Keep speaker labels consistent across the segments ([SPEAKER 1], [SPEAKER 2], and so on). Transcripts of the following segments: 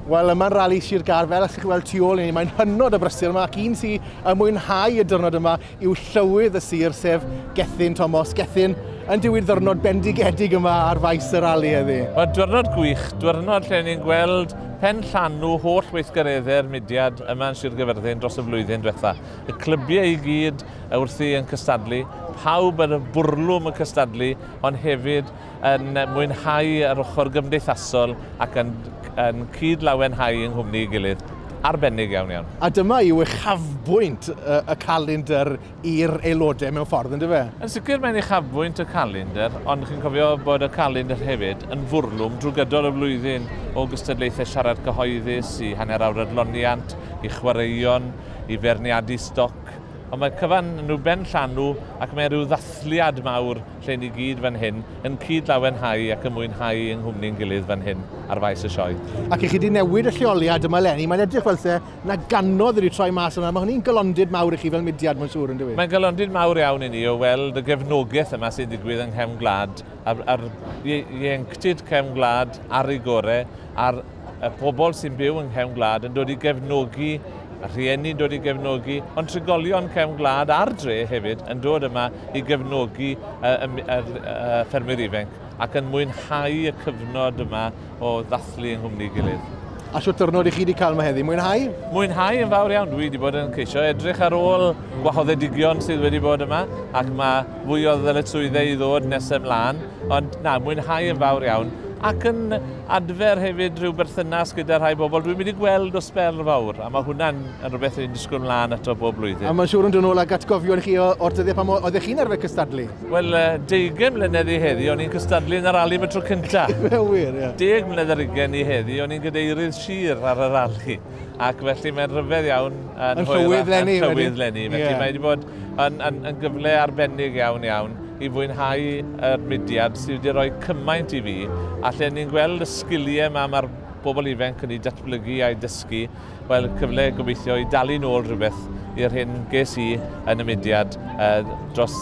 [SPEAKER 1] Wel, yma'n rali Sir Gar, fel ych chi'n weld tu ôl i ni, mae'n hynod o brysur yma, ac un sy'n ymwynhau y dyrnod yma yw llywydd y sir, sef Gethin Thomas. Gethin, yn diwyd ddyrnod bendigedig yma ar faes y rali heddi. Mae dyrnod gwych, dyrnod lle ni'n gweld pen llanw holl weithgareddau'r mudiad yma yn Sir Gyfyrddin dros y flwyddyn diwetha. Y clybiau i gyd wrthi yn cystadlu, pawb ar y bwrlwm yn cystadlu, ond hefyd yn mwynhau yr ochr gymdeithasol ac yn yn cyd-lawenhau yng nghwmni ei gilydd. Arbennig iawn iawn. A dyma yw uchafbwynt y y calendr i'r aelodau mewn ffordd yndyfe? Yn yn sicr mae'n uchafbwynt y calendr ond chi'n cofio bod y calendr hefyd yn fwrlwm drwy gydol y flwyddyn o gystadlaethau siarad cyhoeddus i hanner awr adloniant, i chwaraeon, i feirniadu stoc ond mae cyfan yn rhyw ben llanw ac mae rhyw ddathliad mawr lle ni gyd fan hyn yn cyd-lawenhau ac yn mwynhau yng nghwmni ein gilydd fan hyn ar faes y sioe. Ac i chi 'di newid y lleoliad yma eleni, mae'n edrych fel 'se 'na ganodd wedi troi mas yma, mae hynny'n galondid mawr i chi fel mudiad mae'n siŵr, yndyw 'i? Mae'n galondid mawr iawn i ni o weld y gefnogaeth yma sy'n digwydd yng nghefn gwlad, a'r ieuenctid cefn gwlad ar ei gore, a'r y pobl sy'n byw yng nghefn gwlad yn dod i gefnogi, a rhieni'n dod i gefnogi, ond trigolion cefn gwlad a'r dre hefyd yn dod yma i gefnogi y, y, y, y ffermwyr ifenc ac yn mwynhau y cyfnod yma o ddathlu yng nghwmni gilydd. A siwt dyrnod i chi wedi cael yma heddi? Mwynhau? Mwynhau yn fawr iawn. Dwi wedi bod yn ceisio edrych ar ôl gwahoddedigion sydd wedi bod yma ac mae Mwy o ddyletswyddau i ddod nes ymlaen, ond na, mwynhau yn fawr iawn, ac yn adfer hefyd rhyw berthynas gyda rhai bobl dwi'n mynd i gweld o sbel fawr, a mae hwnna'n yn rhywbeth rwy'n disgwyl mlaen ato bob blwyddyn. A mae'n siŵr yn dod nôl ag atgofion chi o'r dyddiau pan oeddech chi'n arfer cystadlu? Wel, 20 mlynedd i heddi, o'n i'n cystadlu yn y rali am y tro cyntaf. Mae'n wir, ie. Deg mlynedd ar ugain i heddi, o'n i'n gadeirydd sir ar y rali. Ac felly mae'n rhyfedd iawn yn, yn rhywydd lenni. Yn rhywydd lenni. Felly yeah. mae wedi bod yn, yn, yn gyfle arbennig iawn iawn i fwynhau yr mudiad sydd wedi rhoi cymaint i fi. A lle ni'n gweld y sgiliau yma mae'r bobl ifanc yn ei datblygu a'i dysgu, wel cyfle gobeithio i dalu nôl rhywbeth i'r hyn ges i yn y mudiad uh, dros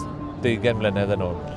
[SPEAKER 1] 20 mlynedd yn ôl.